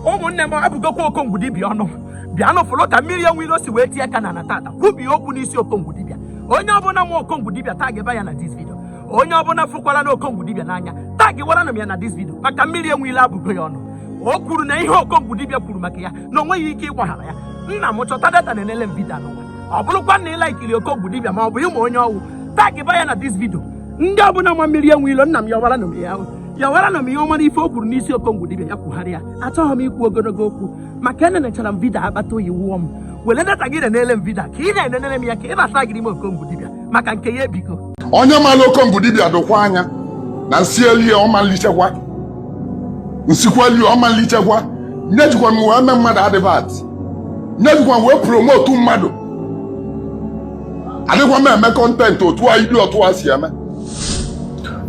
ụmụnne m abụgokwa okongwu dibịa ọnụ bịanụ fụlụ ka mmiri enwe ilo si wee tie aka n'ana tata kwubie okwu n'isi okongwu dibịa onye ọbụla ma okongwu dibịa tagịba ya na this video onye ọbụla fụkwara na okongwu dibịa n'anya tagịwara nụ m ya na this video maka mmiri enwe ilo abụgo ya ọnụ o kwuru na ihe okongwu dibịa kwuru maka ya na o nweghị ike ịgbaghara ya nna m chọta data nenele m video anụnwa ọ bụrụkwa na ị la-ekiri okongwu dibịa ma ọ bụ ị ma onye ọ wụ tagịba ya na this video ndị ọbụla ma mmiri enwe ilo nna m yọwara nụ m ya yọwara nụ m ya ọ mara ife o kwuru n'isi okongwu dibịa ya kwugharịa achọghị m ikwu ogologo okwu maka enenechara m video akpata oyi wụọ m were data gị nenele m video ka ị na-enenere m ya ka ị na-atagịrị m okongwu dibịa maka nke ya ebigo onye mara okongwu dibịa dokwa anya na nsielie ọmalichekwa nsikwalie ọmalichekwa nya ejikwa m wee mee mmadụ advert nya ejikwa m wee promote mmadụ adịkwa m eme content otu a idiot a si eme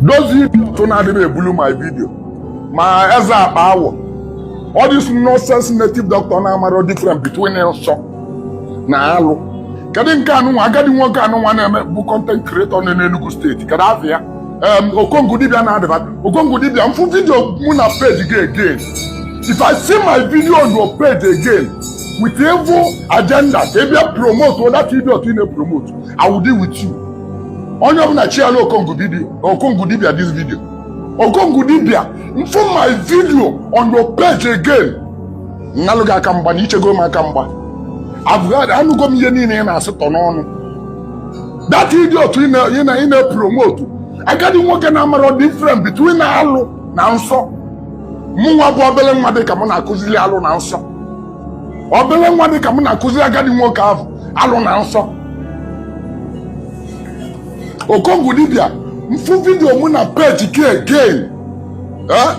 those idiot na-adịghị ebulu my video ma eze akpa awọ all this nonsense native doctor na-amara different between nsọ na alụ kedu nke anụnwa agadi nwoke anụnwa na-eme bụ content creator nọ n'Enugu state kedu afa ya okongwu dibịa na-adịba okongwu dibịa m fụ video mụ na page gị again if i see my video on your page again with evil agenda ka ị bịa promote that idiot ị na-epromote I will deal with you onye ọbụla chiala okongwu dibịa okongwu dibịa this video okongwu dibịa m fụ my video on your page again m nalụ gị aka mgba na i chego m aka mgba abụghadị anụgo m ihe niile ị na-asịtọ n'ọnụ that idiot ị na- ị na- ị na-epromote agadi nwoke na-amara different between alụ na nsọ mụnwa bụ obele nwa dị ka m na-akụziri alụ na nsọ obele nwa dị ka m na-akụziri agadi nwoke ahụ alụ na nsọ okongwu dibịa m fụ video mụ na page gị again eh?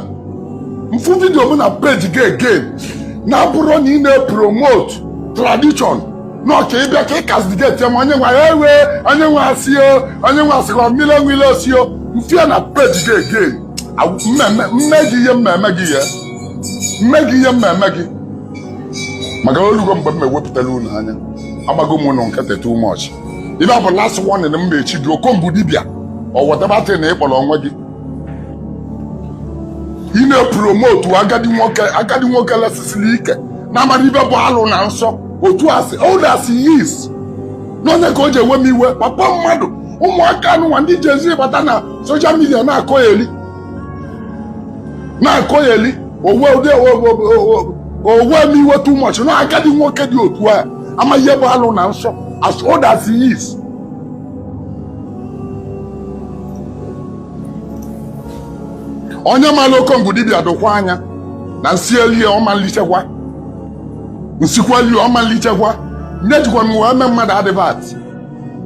m fụ video mụ na page gị again na-abụrọ na ị na-epromote tradition n'ọ ka ị bịa ka ị castigate m onye nwa ya ewe onye nwa asị o onye nwa asịkwa mmiri enwe ilo osi o m fụ ya na page gị again m mee gị ihe m ma-eme gị ya m mee gị ihe m ma-eme gị maka olugo mgbe m ewepụtara unu anya agbago m unu nkịtị too much ive a bụ last warning m na-echi gị okongwu dibịa or whatever thing na ị kpọrọ onwe gị ị na-epromote agadi nwoke agadi nwoke lesisiri ike na-amara ive bụ alụ na nsọ otu as old as he is n'ọ nya ka o ji ewe m iwe papa mmadụ ụmụaka anụnwa ndị jezi bata na social media na-akọgheli na-akọgheli o we ụdị o we m iwe too much na agadi nwoke dị otu a ama ihe bụ alụ na nsọ as old as he is onye mara okongwu dibịa dụkwaa nya na nsi elie ọmalichekwa nsikwa elie ọmalichekwa nya ejikwa m wee mee mmadụ advert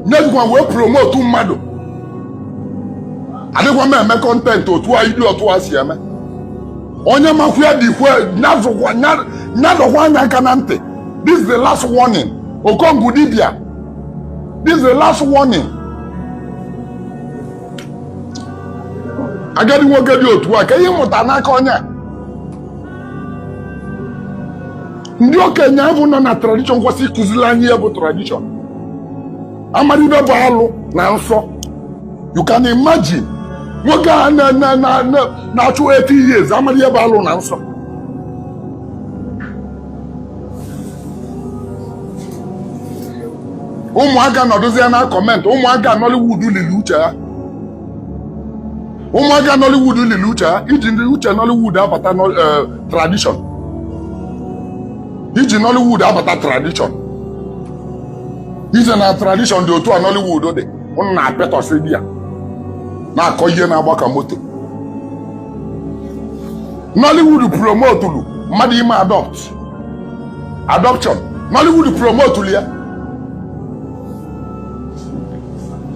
nya ejikwa wee promotu mmadụ adịkwa m eme content otu a iri otu a si eme onye makwu ya dịkwa nyazụkwa nya- nya dọkwaa nya aka na ntị this is the last warning okongwu dibia this is the last warning agadi nwoke dị otu a ka ihe mụta n'aka onye a ndị okenye ahụ nọ na tradition kwesị ịkụziri anyị ihe bụ tradition amarọ ibe bụ alụ na nsọ you can imagine nwoke a na- na- na- na- na-achụ 80 years amarọ ihe bụ alụ na nsọ ụmụaka nọdụzie na comment ụmụaka nollywood lili uche ha ụmụaka Nollywood lili uche ha iji ndị uche Nollywood abata eh, tradition iji Nollywood abata tradition iche na tradition dị otu a Nollywood dị ụnụ na-apịatọsị di ya na-akọ ihe na-agba ka moto Nollywood promotulu mmadụ ime adopt adoption Nollywood promotulu ya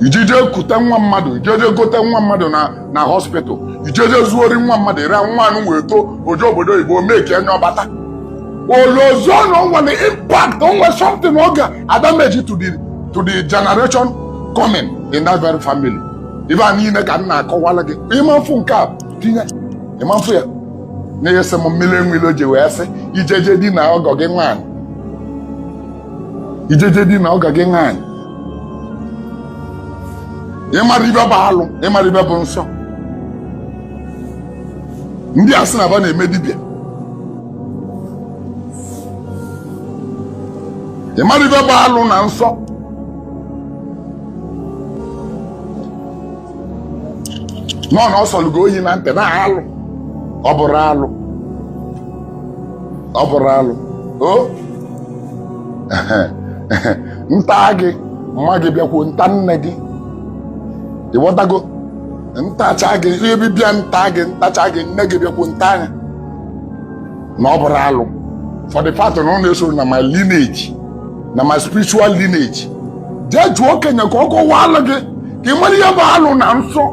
ijeje kute nwa mmadụ ijeje gote nwa mmadụ na na hospital ijeje zuori nwa mmadụ ere nwa anụ wee too o je obodo oyibo meki nya ọ bata o lozọ na o nwere impact o nwere something ọ ga-adameji to the to the generation coming in that very family ibe a niile ka m na-akọwala gị ịma mfụ nke a tinye ịma mfụ ya na-ese m mmiri enweilo ji wee sị ijeje dina ọgọ gị nwaanyị ijeje dina ọgọ gị nwaanyị ịmara ibe bụ alụ ịmara ibe bụ nsọ ndị a sị na ba na-eme dibịa ịmara ibe bụ alụ na nsọ nọ na ọ sọlụgo oyi na ntị na alụ ọ bụrụ alụ ọ bụrụ alụ o nta gị mma gị bịakwuo nta nne gị ịghọtago ntacha gị ihe bịbịa nta gị ntacha gị nne gị bịakwuo nta nya na ọ bụrụ alụ for the fact na ọ na-esoro na my lineage na my spiritual lineage jee jụọ okenye ka ọ kọwaalụ gị ka ị mara ihe bụ alụ na nsọ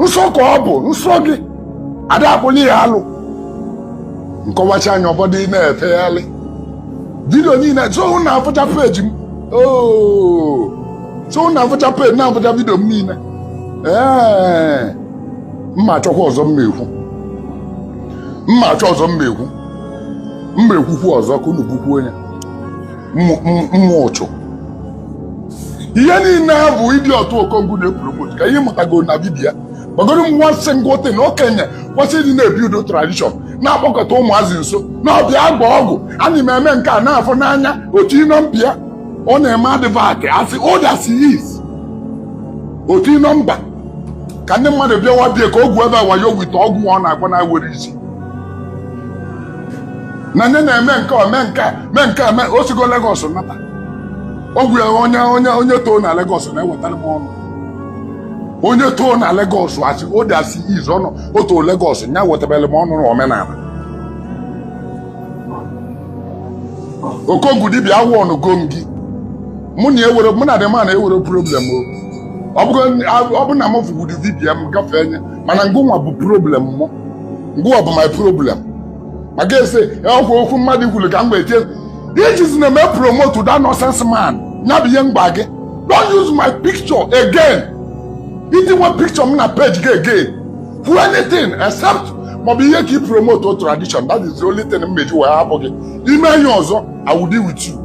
nsọ ka ọ bụ nsọ gị a da akpọli ya alụ nkọwacha anya ụfọdụ ị na-efegharị vidio niile so na-afụcha peji m oo so na-afụcha peji na-afụcha vidio m niile ee m ma-achọkwa ọzọ m na-ekwu m ma-achọ ọzọ m ma-ekwu m ma-ekwukwu ọzọ ka unu bukwu onye mma ụchụ ihe niile ya bụ idiot okongwu na-epromote ka ihe mụtago na dibịa gbagoro m nwa sị ngwọte na okenye kwesị ịdị na-ebi udo tradition na-akpọkọta ụmụazị nso na-abịa agba ọgwụ a na eme nke a na-afụ n'anya otu ịnọ mpịa ọ na-eme advert asị ụda si is otu ịnọ mba ka ndị mmadụ bịawa bie ka ogwu ebe a wayo wite ọgwụ ọ na-agwa na-ewere isi na nye na-eme nke a mee nke a mee nke a mee o sigo Lagos nata ogwu ya onye onye onye too na Lagos na-ewetara m ọnụ onye too na Lagos asị o dị asị izu ọnụ o too Lagos nya wetabere m ọnụ na omenala okongwu dibịa awarnụgo m gị mụ na-enwere mụ na gị ma na-enwere problem o ọ bụrụ na m fụgodu vidiyo m gafee nya mana ngụnwa bụ problem mụ ngụnwa bụ my problem maka ese ọkwa okwu mmadụ kwuru ka m wee tie i jizi na-eme promote that nonsense man ya bụ ihe m gwa gị don't use my picture again i tinye picture m na page gị again for anything except maọbụ ihe ka i promote tradition that is the only thing m meji wee hapụ gị i mee ihe ọzọ I will deal with you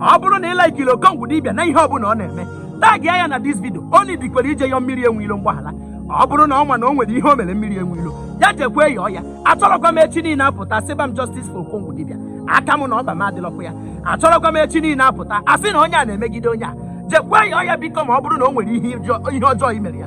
ọ bụrụ na ị laikiri okongwu dibịa na ihe ọbụla ọ na-eme tagia ya na this vidio ọ needikwara ije yọọ mmiri enweilo mgbaghara ọ bụrụ na ọ ma na o nwere ihe o mere mmiri enweilo ya jekwa yọọ ya achọrọkwa m echi niile apụta sịba m justice for okongwu dibịa aka m na ọkpa m adịlọkwa ya achọrọkwa m echi niile apụta asị na onye a na-emegide onye a jekwa yọọ ya biko ma ọ bụrụ na o nwere ihe ọjọọ- ihe ọjọọ i mere ya